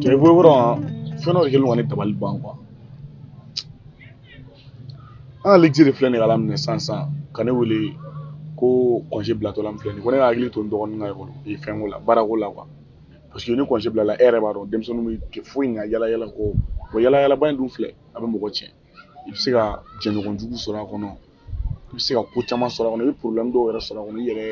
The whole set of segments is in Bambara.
Jɛbɔyɔrɔ fɛn dɔ de kɛlen don ka ne dabali ban quoi an ka le vieux de filɛ nin ye k'a laminɛ sisan sisan ka ne wele ko congé bilatɔla min filɛ nin ye ko ne ka hakili to n dɔgɔnin ka ekɔli ee fɛnko la baarako la quoi parce que ni congé bilala e yɛrɛ b'a dɔn denmisɛnninw tɛ foyi ɲɛ yala yala kɔ o yala yalaba in dun filɛ a bɛ mɔgɔ tiɲɛ i bɛ se ka jɛɲɔgɔn jugu sɔrɔ a kɔnɔ i bɛ se ka ko caman sɔrɔ a kɔnɔ i bɛ problème dɔw yɛrɛ sɔrɔ a kɔnɔ i yɛrɛ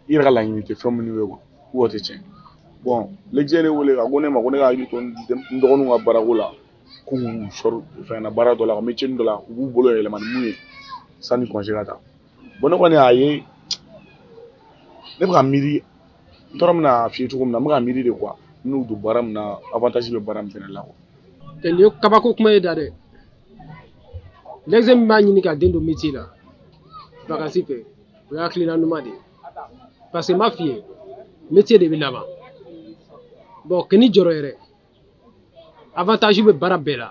i yɛrɛ ka laɲini tɛ fɛn minnu ye quoi k'o tɛ tiɲɛ bon le vieux ye ne wele ka ko ne ma ko ne ka hakili to n dɔgɔninw ka baarako la k'u sɔrɔ fɛn na baara dɔ la ka métier dɔ la u b'u bolo yɛlɛma ni mun ye sanni congé ka taa bon ne kɔni y'a ye ne bɛ ka miiri n tɔɔrɔ min na f'i ye cogo min na n bɛ ka miiri de quoi n'u don baara min na avantage bɛ baara min fana la quoi nin ye kabako kuma ye da dɛ le vieux min b'a ɲini ka den don métier la vacances fɛ o ye hakilina ɲuman de ye parce que n b'a f'i ye métier de bɛ laban bon kana jɔrɔ yɛrɛ avantage bɛ baara bɛɛ la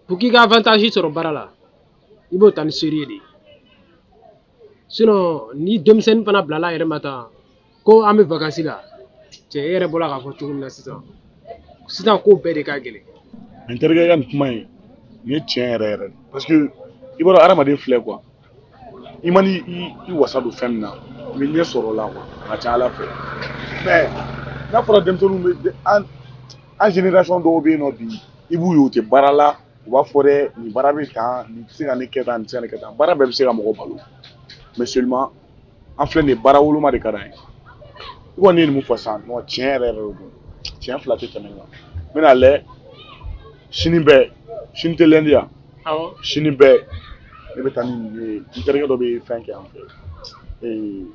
pour k'i ka avantage sɔrɔ baara la i b'o ta ni sérieux de ye sinon ni denmisɛnnin fana bilala a yɛrɛ ma tan ko an bɛ vacances la cɛ e yɛrɛ bɔra k'a fɔ cogo min na sisan sisan ko bɛɛ de ka gɛlɛn. n terikɛ ka nin kuma in nin ye tiɲɛ yɛrɛ yɛrɛ de parce que i b'a dɔn hadamaden filɛ quoi i mana i wasa don fɛn min na i bɛ ɲɛ sɔrɔ o la quoi a ka ca a la fɛ mais n'a fɔra denmisɛnninw bɛ de- an an génération dɔw bɛ yen nɔ bi i b'u ye u tɛ baara la u b'a fɔ dɛ nin baara bɛ tan nin tɛ se ka ne kɛ tan nin tɛ se ka ne kɛ tan baara bɛɛ bɛ se ka mɔgɔ balo mais seulement an filɛ nin ye baara woloma de ka d'an ye i kɔni ye nin min fɔ sisan nɔ tiɲɛ yɛrɛ yɛrɛ de don tiɲɛ fila tɛ tɛmɛ kan n bɛna a lajɛ sini bɛɛ sini tɛ lundi ye wa sini bɛɛ ne bɛ taa ni nin ye n terikɛ dɔ bɛ fɛn kɛ an fɛ ee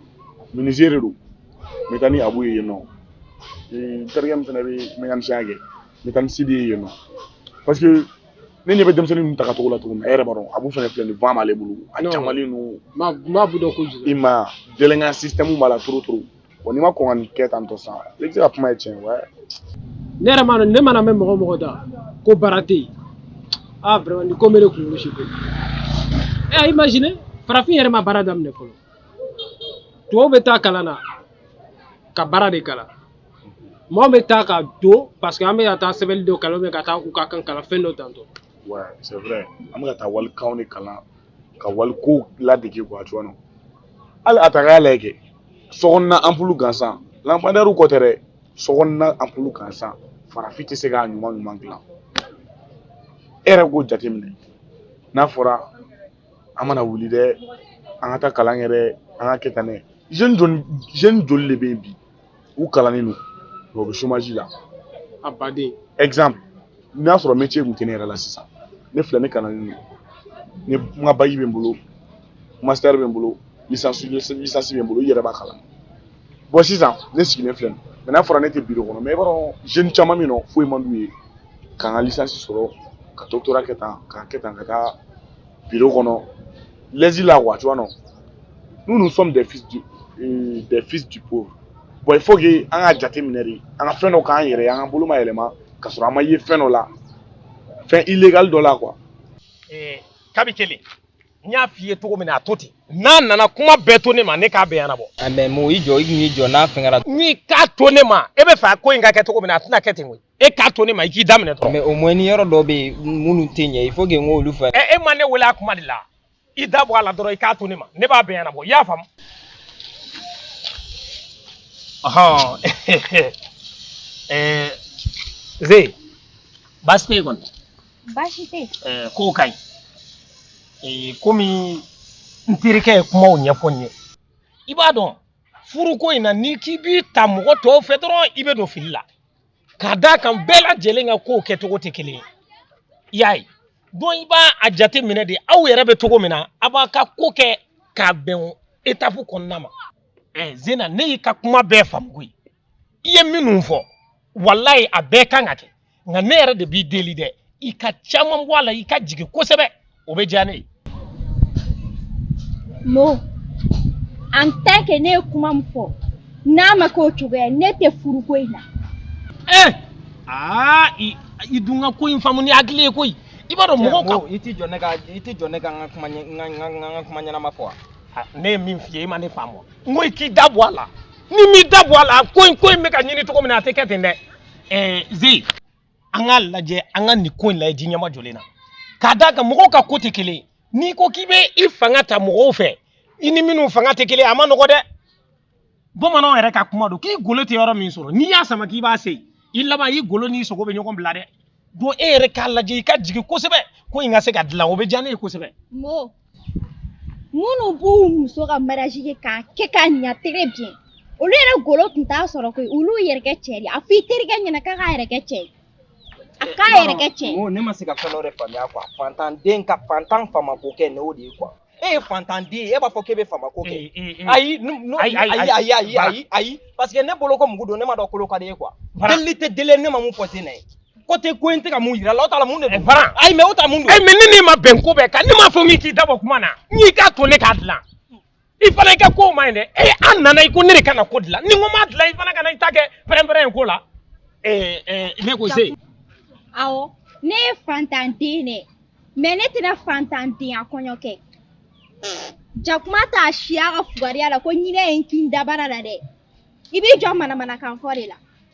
menuisier de don n bɛ taa ni Abu ye yen nɔ n terikɛ min fana bɛ mɛkanisɛnya kɛ n bɛ taa ni Sidi ye yen nɔ parce que ne ɲɛ bɛ denmisɛnnin ninnu taga cogo la cogo min e yɛrɛ b'a dɔn Abu fana filɛ nin fan b'ale bolo a kamalen ninnu n bɛ Abu dɔn kojugu i ma délinquant système b'a la trop trop wa n'i ma kɔn ka nin kɛ tan tɔ sisan i bɛ se ka kuma ye tiɲɛ wɛ ne yɛrɛ m'a dɔn ne mana a mɛn mɔgɔ o mɔgɔ da ko baara tɛ yen ah vraiment nin ko bɛ ne kunkolo ci koyi imagine farafin yɛrɛ ma baara daminɛ fɔlɔ tubabu bɛ taa kalan na ka baara de kalan mɔgɔ bɛ taa ka don parce que an bɛ ka taa sɛbɛnni dɔ kalan bɛ ka taa u ka kan kalan fɛn dɔ tantɔ ouais c'est vrai an bɛ ka taa walikanw de kalan ka walikow ladege quoi tu vois non hali a ta k'a lajɛ kɛ sokɔnɔna anpulu gansan lampadaire ko tɛ dɛ sokɔnɔna anpulu gansan farafin tɛ se k'a ɲuman ɲuman dilan e yɛrɛ k'o jateminɛ n'a fɔra an mana wuli dɛ an ka taa kalan kɛ dɛ an ka kɛ tan dɛ jeune joli de bɛ yen bi u kalannen don u bɛ chômage la a baden exemple n'a sɔrɔ métier tun tɛ ne yɛrɛ la sisan ne filɛ ne kalannen don ne n ka bac bɛ n bolo master bɛ n bolo licence licence bɛ n bolo i yɛrɛ b'a kalama bon sisan ne sigilen filɛ nin mais n'a fɔra ne tɛ biro kɔnɔ mais i b'a dɔn jeune caman bɛ yen non foyi man d'u ye k'an ka licence sɔrɔ ka doctorat kɛ tan k'a kɛ tan ka taa biro kɔnɔ l'aise la quoi tu vois non nous nous sommes des fils du euh, des fils du pauvre bon il faut que an ka jate minɛ de an ka fɛn dɔ k'an yɛrɛ ye an ka bolomayɛlɛma ka sɔrɔ an ma ye fɛn dɔ la fɛn illégal dɔ la quoi. Eh, kabi kelen n y'a f'i ye cogo min na a to ten n'a nana kuma bɛɛ to ne ma ne k'a bɛɛ ɲɛnabɔ. a mais mo i jɔ i k'i jɔ n'a fɛnkɛra. n'i k'a to ne ma e bɛ fɛ a ko in ka kɛ cogo min na a tɛna kɛ ten koyi. e k'a to ne ma i k'i daminɛ dɔrɔn. mais au moins ni yɔrɔ dɔ bɛ yen minnu tɛ ɲɛ il faut que n k'olu fɔ. ɛ e ma ne wele a kuma de la i da bɔ a la dɔrɔn i k'a to ne ma ne b'a bɛɛ ɲɛnabɔ i y'a faamu. ɔhɔn ɛɛ ze baasi tɛ yen kɔni. baasi tɛ yen. ɛɛ kow ka ɲi ee komi n terikɛ ye kumaw ɲɛfɔ n ye i b'a dɔn furuko in na n'i k'i b'i ta mɔgɔ tɔw fɛ dɔrɔn i bɛ don fili la. k'a d'a kan bɛɛ lajɛlen ka kow kɛcogo tɛ kelen ye i y'a ye donc i b'a a jate minɛ de aw yɛrɛ bɛ cogo min na a b'a ka ko kɛ k'a bɛn étape kɔnɔna ma ɛ zena ne y'i ka kuma bɛɛ faamu koyi i ye minnu fɔ walayi a bɛɛ kan ka kɛ nka ne yɛrɛ de b'i deli dɛ i ka caman bɔ a la i ka jigin kosɛbɛ o bɛ diya ne ye mo en tant que ne ye kuma min fɔ n'a ma k'o cogoya ne tɛ furuko in na ee aa i i dun ka ko in faamu ni hakili ye koyi i b'a dɔn mɔgɔw ka i tɛ jɔ ne ka i tɛ jɔ ne ka n ka kuma ɲɛ- n ka- n ka- n ka- n ka kuma ɲɛnama fɔ wa Ah, ne ye min f'i ye i ma ne faamu n ko i k'i da bɔ a la n'i m'i da bɔ a la ko in ko in bɛ ka ɲini cogo min na a tɛ kɛ ten dɛ ɛɛ ze an k'a lajɛ an ka nin ko in lajɛ ji ɲɛmajɔlen na k'a d'a kan mɔgɔw ka ko tɛ kelen n'i ko k'i bɛ i fanga ta mɔgɔw fɛ i ni minnu fanga tɛ kelen ye a man nɔgɔ dɛ bamananw yɛrɛ ka kuma don k'i golo tɛ yɔrɔ min sɔrɔ n'i y'a sama k'i b'a se i laban i golo n'i sogo bɛ ɲɔgɔn bila dɛ donc e yɛrɛ k'a lajɛ i ka jigin kosɛbɛ ko in ka se ka dilan o bɛ diya ne ye kosɛbɛ minnu b'u muso ka mariage kɛ k'a kɛ k'a ɲa très bien olu yɛrɛ golo tun t'a sɔrɔ koyi olu yɛrɛ kɛ cɛ de ye a fɔ i terikɛ ɲɛna k'a k'a yɛrɛ kɛ cɛ ye a k'a yɛrɛ kɛ cɛ ye Mo, ne ma se ka fɛn dɔ de faamuya quoi fantanden ka fantan faamako kɛ n'o de ye quoi e ye fantanden ye e b'a fɔ k'e bɛ faamako kɛ Ee, ee, ee. ayi nu- nu- Ayi, ayi, ayi ayi ayi Bara. ayi ayi parce que ne bolo ko mugu don ne ma dɔn kolo ka di ye quoi Bara. delili tɛ deli ne ma mun fɔ ten na ye ko tɛ ko in tɛ ka mun yira la o t'a la mun de don Bara ayi mais o t'a la mun don ayi mais ne n'i ma bɛn ko bɛɛ kan ne m'a fɔ min k'i dabɔ kuma na n'i k'a to ne k'a dilan i fana i ka kow man ɲi dɛ ee an nana i ko ne de ka na ko dilan ni n ko m'a dilan i fana kana i ta kɛ pɛrɛnpɛrɛn ye ko la ee ee ne ko se awɔ ne ye fantanden de mais ne tɛna fantandenya kɔɲɔ kɛ jakuma t'a siya ka fugariya la ko ɲinɛ ye n kin dabara la dɛ i b'i jɔ manamanakan fɔ de la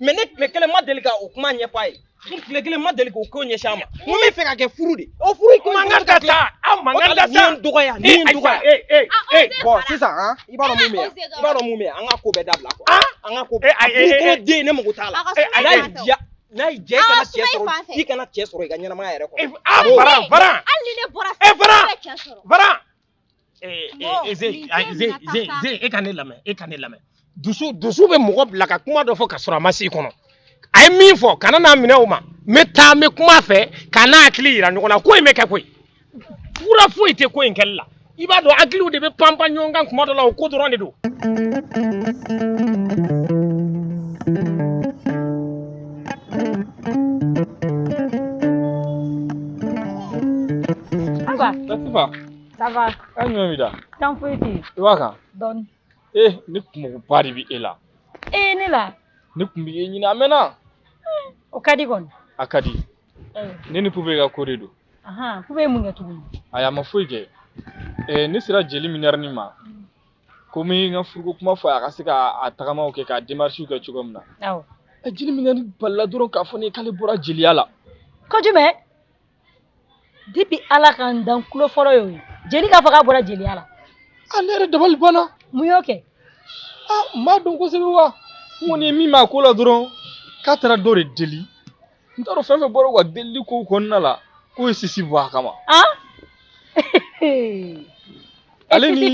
mais ne tile kelen ma deli ka o kuma ɲɛfɔ a ye n tile kelen ma deli k'o ko ɲɛsin a ma n ko n b'i fɛ k'a kɛ furu de o furu ko man kan ka taa aw man kan ka taa dɔgɔya nin ye dɔgɔya ee ee ee bon sisan han i b'a dɔn mun bɛ yan i b'a dɔn mun bɛ yan an ka ko bɛɛ dabila quoi an ka ko bɛɛ a furu ko den ne mago t'a la n'a y'i diya n'a ye jɛ kana cɛ sɔrɔ i kana cɛ sɔrɔ i ka ɲɛnamaya yɛrɛ kɔnɔ. bara bara hali ni ne bɔra fɛ e bara bara e ka ne lamɛn e ka ne lamɛn dusu dusu bɛ mɔgɔ bila ka kuma dɔ fɔ ka sɔrɔ a ma si i kɔnɔ a ye min fɔ kana n'a minɛ o ma n bɛ taa n bɛ kuma a fɛ ka n'an hakili yira ɲɔgɔn na ko in bɛ kɛ koyi fura foyi tɛ ko in kɛli la i b'a dɔn hakiliw de bɛ panpan ɲɔgɔn kan kuma dɔ la o ko dɔrɔn de don. Aba. Latifa. Ça va. A ɲuman b'i da. Tana foyi tɛ yen. I b'a kan. Dɔɔni. Ee ne kunkoba de bɛ e la. Ee ne la. Ne kun bɛ e ɲini a mɛnna. O ka di kɔni. A ka di. Ne ni Pube ka ko de don. Pube ye mun kɛ tuguni. Ayi a ma foyi kɛ. Ee ne sera jeli minɛrɛni ma. ko n bɛ n ka furuko kuma fɔ a ka se k'a tagamaw kɛ k'a démarches kɛ cogo min na awɔ ɛ jeli minɛrɛni balila dɔrɔn k'a fɔ ne ye k'ale bɔra jeliya la ko jumɛn depuis ala ka n dan n tulo fɔlɔ y'o ye jeli k'a fɔ k'a bɔra jeliya la a ne yɛrɛ dabali banna mun y'o kɛ a n b'a dɔn kosɛbɛ wa n kɔni ye min mɛn a ko la dɔrɔn k'a taara dɔ de deli n t'a dɔn fɛn fɛn bɔra u ka delili kow kɔnɔna la k'o ye sisi bɔ a kama ale ni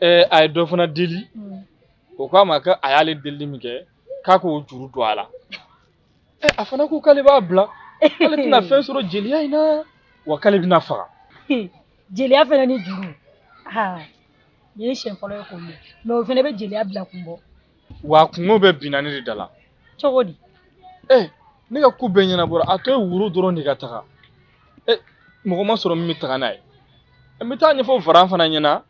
ɛɛ a ye dɔ fana deli o k'a ma ko a y'ale delili min kɛ k'a k'o juru don a la ɛ a fana ko k'ale b'a bila k'ale tɛna fɛn sɔrɔ jeliya in na wa k'ale bɛna faga jeliya fana ni juru aa nin ye siɲɛ fɔlɔ ye k'o mɛn mais o fana bɛ jeliya bila kun bɔ wa kungo bɛɛ binna ne de da la cogo di ee ne ka ko bɛɛ ɲɛnabɔra a tɔ ye woro dɔrɔn de ka taga e mɔgɔ ma sɔrɔ min bɛ taga n'a ye n bɛ taa ɲɛfɔ varan fana ɲɛna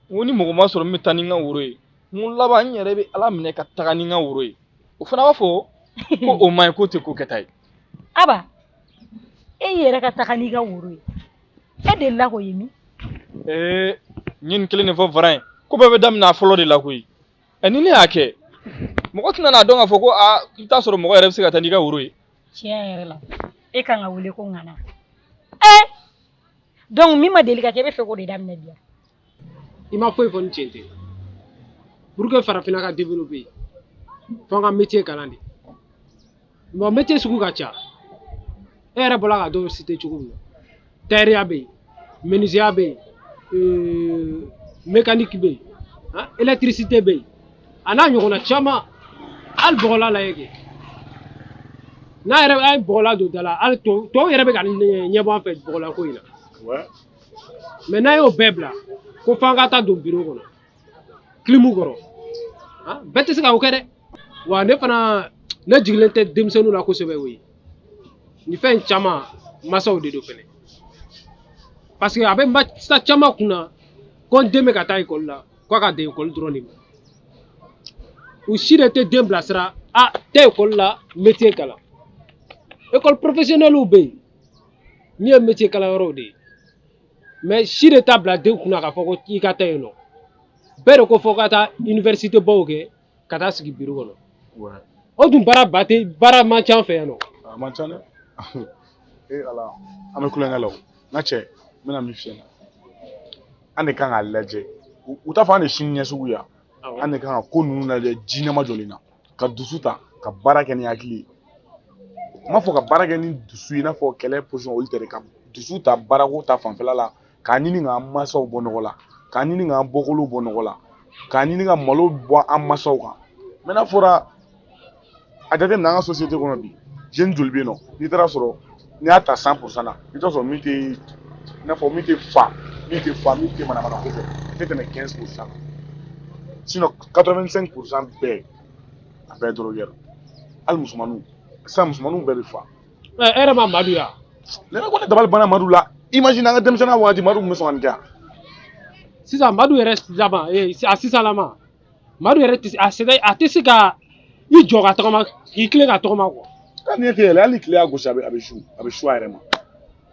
n ko ni mɔgɔ ma sɔrɔ min bɛ taa ni n ka woro ye n ko laban n yɛrɛ bɛ ala minɛ ka taga ni n ka woro ye o fana b'a fɔ ko o ma ɲi k'o tɛ ko kɛta ye aba e yɛrɛ ka taga n'i ka woro ye e delila k'o ye min ee n ye nin kelen de fɔ varan ye ko bɛɛ bɛ daminɛ a fɔlɔ de la koyi ɛ ni ne y'a kɛ mɔgɔ tɛna n'a dɔn k'a fɔ ko a i bɛ taa sɔrɔ mɔgɔ yɛrɛ bɛ se ka taa n'i ka woro ye tiɲɛ yɛrɛ la e kan ka wele ko ŋana ɛ donc min ma deli ka kɛ e bɛ fɛ k'o de daminɛ bi i ma foyi fɔ ni tiɲɛ tɛ pour que farafinna ka développer fo an ka métier kalan de bon métier sugu ka ca e yɛrɛ bɔra ka dɔw citer cogo min na tailleur bɛ yen menuisier bɛ yen euh, mécanique bɛ yen hein, électricité bɛ yen a n'a ɲɔgɔnna caman hali bɔgɔlan lajɛ kɛ n'a yɛrɛ an ye bɔgɔlan don da la hali tɔw tɔw yɛrɛ bɛ ka ɲɛbɔ an fɛ bɔgɔlan ko in na mais n'an y'o bɛɛ bila ko f'an ka taa don biro kɔnɔ kilimu kɔrɔ ah, bɛɛ tɛ se ka o kɛ dɛ wa ne fana ne jigilen tɛ denmisɛnninw la kosɛbɛ o ye nin fɛn caman masaw de don fɛnɛ parce que a bɛ masa caman kun na ko n den bɛ ka taa école la ko a ka dan école dɔrɔn de ma u si de tɛ den bilasira a tɛ école la métier kalan école professionnelw bɛ yen min ye métier kalanyɔrɔw de ye mais si de t'a bila den kunna k'a fɔ ko i ka taa yen nɔ bɛɛ de ko fo ka taa université baw kɛ ka taa sigi biro kɔnɔ o dun baara ba tɛ baara man ca an fɛ yan nɔ a man ca dɛ ee ala an bɛ kulonkɛ la o n ka cɛ n bɛna min f'i ɲɛna an de kan k'a lajɛ u t'a fɔ an de sini ɲɛsigi ya an de kan ka ko ninnu lajɛ ji nɛma jɔlen na ka dusu ta ka baara kɛ ni hakili ye n m'a fɔ ka baara kɛ ni dusu ye i n'a fɔ kɛlɛ position olu tɛ dɛ ka dusu ta baarako ta fanfɛla la k'a ɲini k'an mansaw bɔ nɔgɔ la k'a ɲini k'an bɔkolow bɔ nɔgɔ la k'a ɲini ka malo bɔ an mansaw kan mais n'a fɔra a jateminɛ an ka société kɔnɔ bi jeune joli bɛ yen nɔ n'i taara sɔrɔ n'i y'a ta cent pour cent na i bɛ t'a sɔrɔ min tɛ i n'a fɔ min tɛ fa min tɛ fa min tɛ manamana ko fɛ a tɛ tɛmɛ quinze pour cent kan sinon quatre vingt cinq pour cent bɛɛ a bɛɛ drogué don hali musomaninw sisan musomaninw bɛɛ bɛ fa ɛ e yɛrɛ ma madu ya ne yɛrɛ ko ne dabali banna madu la imagine an ka denmisɛnninya waati madu tun bɛ sɔn ka nin kɛ yan sisan madu yɛrɛ laban ee a sisan lama madu yɛrɛ tɛ a sɛgɛn a tɛ se ka i jɔ ka tɔgɔma k'i tilen ka tɔgɔma quoi ka ne tɛ yɛlɛ hali tile y'a gosi a bɛ a bɛ su a bɛ su a yɛrɛ ma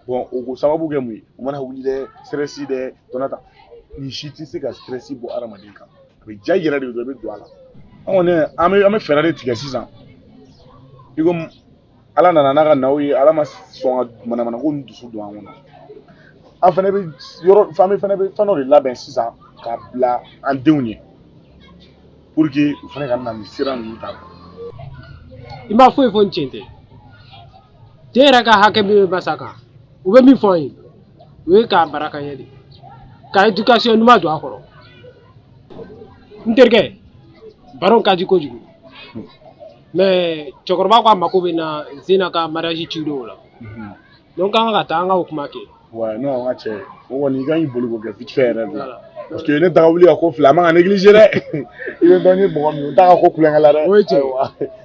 bɔn o ko sababu kɛ mun ye u mana wuli dɛ stress dɛ tɔnɔ ta nin si tɛ se ka stress bɔ adamaden kan a bɛ ja i yɛrɛ de don i bɛ don a la an kɔni an bɛ an bɛ fɛɛrɛ de tigɛ sisan i ko ala nana n'a ka naw ye ala ma sɔn ka manamana ko ni dusu don an kɔnɔ an fana bɛ yɔrɔ fan bɛ fana bɛ fɛn dɔ de labɛn sisan k'a bila an denw ye pour que u fana ka na nin sira ninnu ta i ma foyi fɔ ni cɛn tɛ den yɛrɛ ka hakɛ min bɛ masa kan u bɛ min fɔ an ye o ye k'a baraka ɲɛ de ka éducation ɲuman don a kɔrɔ n terikɛ baro ka di kojugu mais cɛkɔrɔba ko a mako bɛ n na zena ka mariage ci dɔw la donc k'an ka taa an ka o kuma kɛ ouais non n ka cɛ o kɔni i ka ɲi boli k'o kɛ vite fait yɛrɛ de la parce que ne daga wuli ka ko fila a man ka négliger dɛ i bɛ dɔn ni mɔgɔ min n t'a ka ko kulonkɛ la dɛ o ye cɛn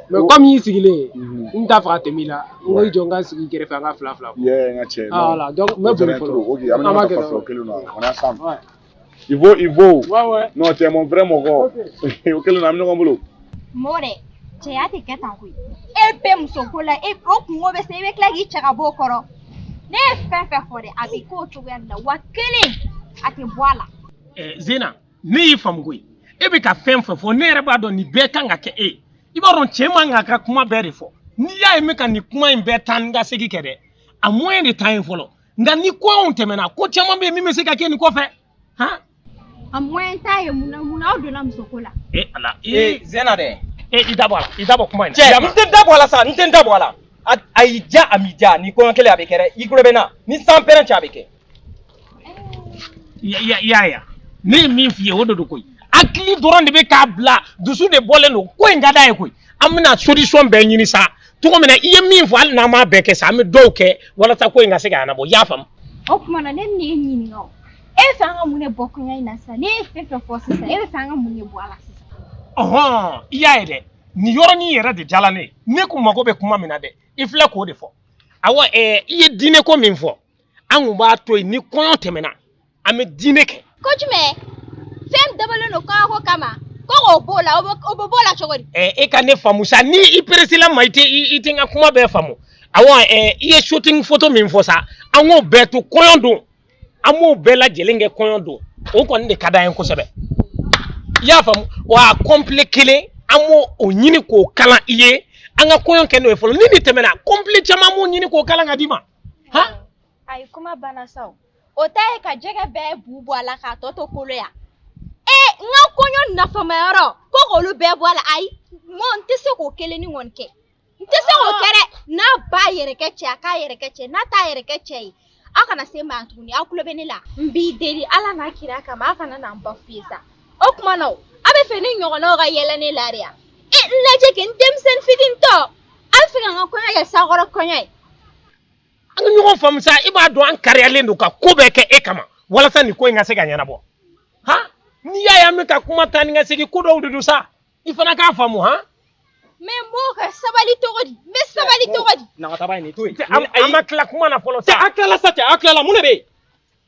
mais komi n y'i sigilen ye n t'a fɛ ka tɛmɛ i la n ko i jɔ n ka sigi kɛrɛfɛ an ka fila fila yɛ n ka cɛ voilà donc n bɛ boli fɔlɔ an b'a kɛ kelen na i fo i fo non t'es mon vrai mɔgɔ o kelen na an bɛ ɲɔgɔn bolo mɔgɔ dɛ cɛya tɛ kɛ tan koyi e bɛ muso ko la e o kungo bɛ se i bɛ tila k'i cɛ ka bɔ o kɔrɔ ne ye fɛn fɛn fɔ dɛ a bɛ k'o cogoya de la wa kelen a tɛ bɔ a la zena ne y'i faamu koyi e bɛ ka fɛn fɛn fɔ ne yɛrɛ b'a dɔn nin bɛɛ kan ka kɛ e i b'a dɔn cɛ man kan ka kuma bɛɛ de fɔ n'i y'a ye n bɛ ka nin kuma in bɛɛ taa ni ka segin kɛ dɛ a moyen de t'an ye fɔlɔ nka ni kɔɲɔ tɛmɛna ko caman bɛ yen min bɛ se ka kɛ nin kɔfɛ han a moyen t'aw ye mun na mun na aw donna musoko la e ala ee zena dɛ e i da bɔ a la i da bɔ kuma in na cɛ n tɛ da bɔ a la sa n tɛ n da bɔ a la a a y'i ja a m'i ja ni kɔɲɔ kelen a bɛ kɛ dɛ i tulo bɛ n na ni san pɛrɛn cɛ a bɛ kɛ Ya- ya- ya ya ne ye min f'i ye o de don koyi hakili dɔrɔn de bɛ k'a bila dusu de bɔlen don ko in ka d'a ye koyi an bɛna solution bɛɛ ɲini sa cogo min na i ye min fɔ hali n'an m'a bɛɛ kɛ sa an bɛ dɔw kɛ walasa ko in ka se ka ɲɛnabɔ i y'a faamu. o tuma na ne bɛna e ɲininka o e b'a fɛ an ka mun de bɔ kɔɲɔ in na sisan ne ye fɛn fɛn fɔ sisan e b'a fɛ an ka mun de bɔ a la sisan. ɔhɔn i y'a ye dɛ nin yɔrɔnin yɛrɛ de diyala ne ye ne kun mago bɛ kuma min na dɛ i filɛ k'o de fɔ awɔ ɛɛ i ye dîner ko min fɔ an kun b'a to yen ni kɔɲɔ tɛmɛna an bɛ dîner kɛ ko jumɛn fɛn dabɔlen don kɔɲɔko kama ko k'o b'o la o bɛ o bɛ b'o la cogo di Ɛ, e ka ne faamu sa ni i presséla ma i tɛ i i tɛ n ka kuma bɛɛ faamu awɔ ɛ, i ye shooting photo min fɔ sa an k'o bɛɛ to kɔɲɔ don an b'o bɛɛ lajɛlen kɛ kɔɲɔ don o kɔni de ka d'an ye kosɛbɛ i y'a faamu wa a complet kelen an b'o o ɲini k'o kalan i ye an ka kɔɲɔ kɛ n'o ye fɔlɔ ni nin tɛmɛna complet caman b'o ɲini k'o kalan k'a d'i ma han ayi kuma banna sa o o ta ye ka jɛgɛ bɛɛ bu bɔ a la k'a tɔ to kolo yan ee n ka kɔɲɔ nafamayɔrɔ ko k'olu bɛɛ bɔ a la ayi mɔ n tɛ se k'o kelen ni kɔni kɛ n tɛ se k'o kɛ dɛ n'a b'a yɛrɛ kɛ cɛ a k'a yɛrɛ kɛ cɛ n'a t'a yɛrɛ kɛ cɛ ye aw kana se n ma tuguni aw tulo bɛ ne la n b'i deli ala n'a kira kama aw kana na n b'a f'i ye sa o tuma na o aw bɛ fɛ ne ɲɔgɔnnaw ka yɛlɛ ne la de yan e n lajɛ kɛ n denmisɛnnin fitinin tɔ aw bɛ fɛ ka n ka kɔɲɔ kɛ sakɔrɔ kɔɲɔ ye an ka ɲɔgɔn faamu sa i b'a dɔn an kariyalen don ka ko bɛɛ kɛ e kama walasa nin ko in ka se ka ɲɛnabɔ ha n'i y'a ye an bɛ ka kuma taa ni ka segin ko dɔw de don sa i fana k'a faamu han mais n b'o ka sabali cogo di n bɛ sabali cogo di nagataba ye nin to yen an ma tila kuma na fɔlɔ sa a tilala sa cɛ a tilala mun de bɛ yen